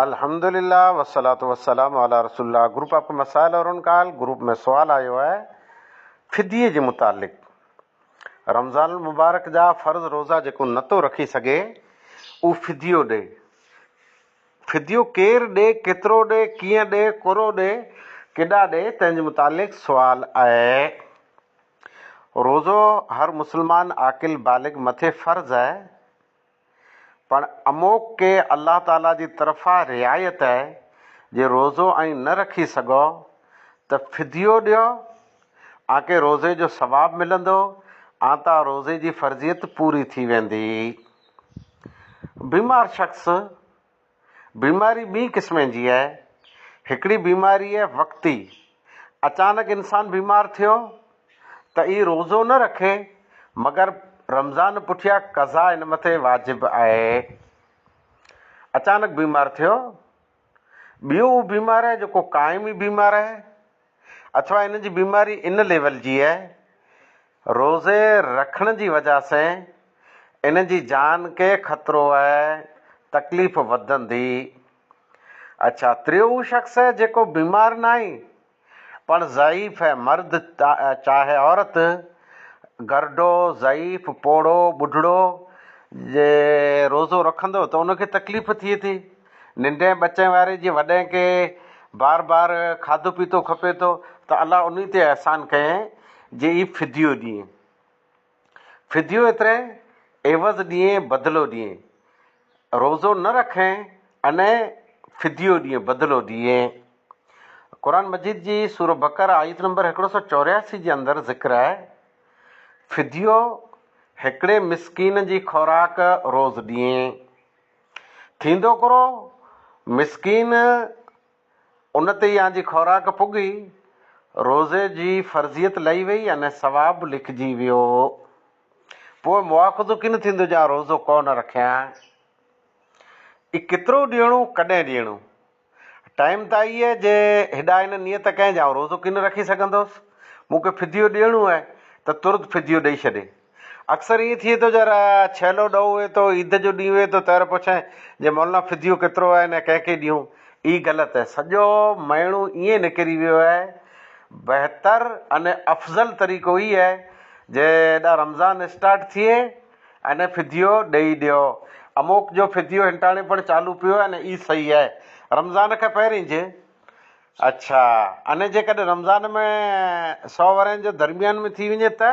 الحمدللّٰه والصلّٰة والسّلام علی رسول اللّٰه گروپ آپ ڪي مسائل اور ان کا حل گروپ ۾ سوال آيو آهي فديي جي متعلق رمضان المبارڪ جا فرض روزا جيڪو نه ٿو رکي سگهي اهو فديو ڏي فديو ڪير ڏي ڪيترو ڏي ڪيئن ڏي ڪورو ڏي ڪيڏا ڏي تنهن جي متعلق سوال آهي روزو هر مسلمان عاقل بالغ مٿي فرض آهي پڻ اموڪ ڪي الله تعاليٰ جي طرفان رعايت آهي، جي روزو ائين نه رکي سگهئو ته فديو ڏيو، آنڪي روزي جو ثواب ملندو، آنتان روزي جي فرضيت پوري ٿي ويندي. بيمار شخص. بيماري ٻئي قسمين جي آهي. هڪڙي بيماري آهي وقتي، اچانڪ انسان بيمار ٿيو ته اي روزو نه رکي مگر رمضان پٺيا قضا ان مٿي واجب آهي. اچانڪ بيمار ٿيو. ٻيو اهو بيمار آهي جيڪو قائمي بيمار آهي. اٿوا هن جي بيماري ان ليول جي اهي روزي رکڻ جي وجه سين هن جي جان کي خطرو اهي تڪليف وڌندي. اڇا تريو هو شخص اهي جيڪو بيمار ناهي پڻ ضعيف اهي مرد چاهي عورت گرڊو ضعيف پوڙهو ٻڍڙو جي روزو رکندو ته ان کي تڪليف ٿئي ٿي. ننڍين ٻچين واري جي وڏين کي بار بار کاڌو پيتو کپي ٿو ته الله انهي تي احسان ڪيئين جي اي فديو ڏيئين فديو ايتري عيوض ڏيئين بدلو ڏيئين روزو نه رکين انهي فديو ڏيئين بدلو ڏيئين قرآن مجيد جي سورة بقرة آيت نمبر هڪڙو سؤ چورياسي جي اندر ذڪر آهي فديو هڪڙي مسڪين جي خوراڪ روز ڏيئين. ٿيندو ڪرو مسڪين ان تي يان جي خوراڪ پڳي روزي جي فرضيت لهي وئي ان ثواب به لکجي ويو پوء مواخذو ڪين ٿيندو جان روزو ڪو نه رکيان اي ڪيترو ڏيڻو ڪڏهن ڏيڻو ٽائيم ته آئي اهي جي هيڏا هن نيت ڪئين جا آئون روزو ڪين رکي سگهندوس. مون کي فديو ڏيڻو اهي ته ترت فديو ڏئي ڇڏي. اڪثر ائين ٿئي ٿو جي ڇيلو ڏهو هئي ٿو عيد جو ڏينهن هئي ٿو تهر پڇين جي مولانا فديو ڪيترو آهن ۽ ڪنهن کي ڏيون. اهي غلط اهي. سڄو مهيڻو ائين نڪري ويو اهي. بهتر ۽ افضل طريقو اهي اهي جي هيڏا رمضان اسٽارٽ ٿئي. اني فديو ڏئي ڏيو. اموڪ جو فديو هنٽاڻي پڻ چالو پيو آهي نه اي صحيح آهي رمضان کان پهرين جي اڇا اني جيڪڏهن رمضان ۾ سو ورهين جو درميان ۾ ٿي وڃي ته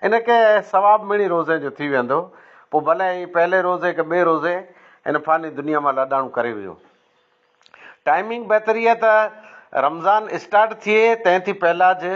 ان کي ثواب مڙي روزي جو ٿي ويندو پو ڀلي هي پهلي روزي کي ٻي روزي ان فاني دنيا مان لاڏاڻو ڪري ويو ٽائمنگ بهتري آهي ته رمضان اسٽارٽ ٿئي تنهن ٿي پهلا جي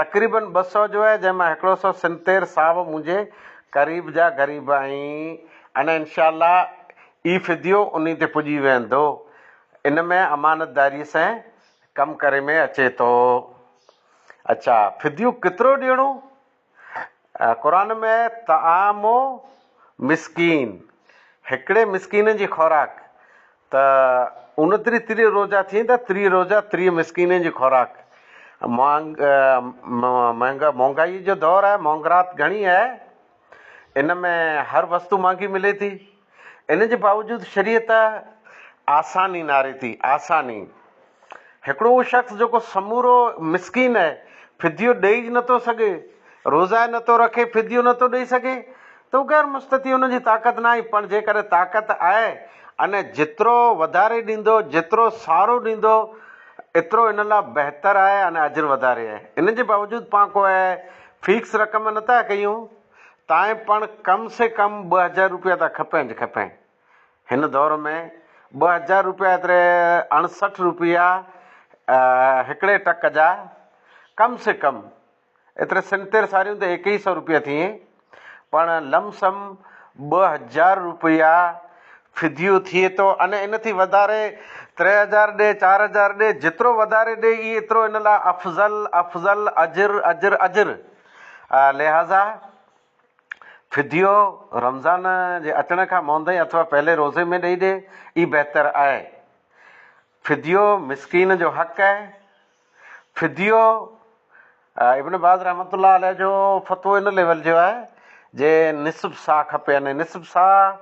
تقريبن ٻه سؤ جو آهي جنهن مان هڪڙو سؤ سنتير صاحب منهنجي قريب جا غريب آهين ان انشاء الله اي فديو انهي تي پڄي ويندو ان ۾ امانتداري سين ڪم ڪري ۾ اچي ٿو اڇا فديو ڪترو ڏيڻو قرآن ۾ طعام مسڪين، هڪڙي مسڪين جي خوراڪ، ته اونتري تري روزا ٿين ته تري روزا تري مسڪين جي خوراڪ. مهانگ مهانگائي جو دور آهي، مهانگرات گهڻي آهي، ان ۾ هر وستو مهانگي ملي ٿي. ان جي باوجود شريعت آساني ناري ٿي، آساني! هڪڙو اهو شخص جيڪو سمورو مسڪين آهي، فديو ڏئي ئي نه ٿو سگهي، روزا نه ٿو رکي، فديو نه ٿو ڏئي سگهي ته هو غير مستطيع، ان جي طاقت ناهي، پڻ جيڪڏهن طاقت آهي ۽ جيترو وڌاري ڏيندو، جيترو سارو ڏيندو، ايترو ان لاء بهتر آهي ۽ اجر وڌاري آهي. ان جي باوجود پاڻ ڪو اهي فيڪس رقم نه ٿا ڪيون. تائين پڻ ڪم سي ڪم ٻه هزار روپيا ته کپين ئي کپين. هن دور ۾ ٻه هزار روپيا ايتري اڻسٺ روپيا هڪڙي ٽڪ جا ڪم سي ڪم ايتري سن تير ساريون ته ايڪ ئي سئو روپيا ٿئين پڻ لم سم ٻه هزار روپيا فديو ٿئي ٿو ۽ ان ٿي وڌاري تري هزار ڏي چار هزار ڏي جيترو وڌاري ڏي ايترو ان لاء افضل افضل اجر اجر اجر. لهٰذا فديو رمضان جي اچڻ کان موندي اٿوا پهلي روزي ۾ ڏئي ڏي، ئي بهتر آهي. فديو مسڪين جو حق آهي. فديو ابن باز رحمة الله عليه جو فتوو ان ليول جو آهي جي نصف صاع کپي يعني نصف صاع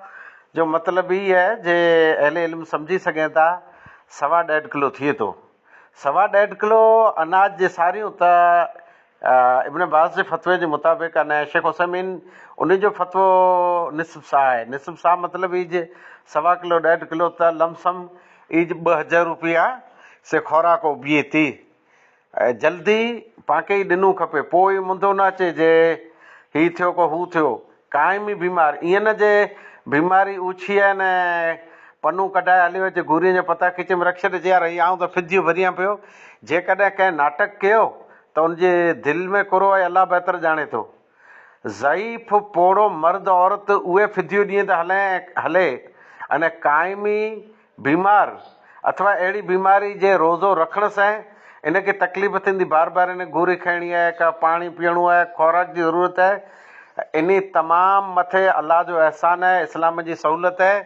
جو مطلب ئي آهي جي اهل علم سمجهي سگهين ٿا سوا ڏيڍ ڪلو ٿئي ٿو. سوا ڏيڍ ڪلو اناج جي ساريون ته ابن باز جي فتوي جي مطابق ۽ شيخ عثيمين انهي جو فتوو نصف صاع آهي نصف صاع مطلب ايج سوا ڪلو ڏيڍ ڪلو ته لم سم ايج ٻه هزر روپيا سي خوراڪ اوبيي تي جلدي پانکي ئي ڏنون کپي پوء اي منڌو نه اچي جي هي ٿيو ڪو هو ٿيو ڪانء مي بيمار ايئن نه جي بيماري اوڇي آهي نه پنون ڪڍائي هليو اچي گورين جا پتا کيچي ۾ رک ڇڏي جيار هي آئون ته ڦڌيون ڀريان پيو جيڪڏهن ڪنهن ناٽڪ ڪيو ته ان جي دل ۾ ڪرو آهي الله بهتر ڄاڻي ٿو ضعيف پوڙهو مرد عورت اهي ڦڌيون ڏينهن ته هلين هلي ان ڪانء مي بيمار اٿوا اهڙي بيماري جي روزو رکڻ سين ان کي تڪليف ٿيندي بار بار ان گوري کائڻي آهي ڪا پاڻي پيئڻو آهي خوراڪ جي ضرورت آهي انهي تمام مٿي الله جو احسان آهي اسلام جي سهولت آهي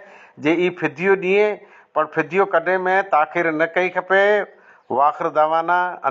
جي اي فديو ڏيئين پر فديو ڪڍي ۾ تاخير نه ڪئي کپي واخر دعوانا ان.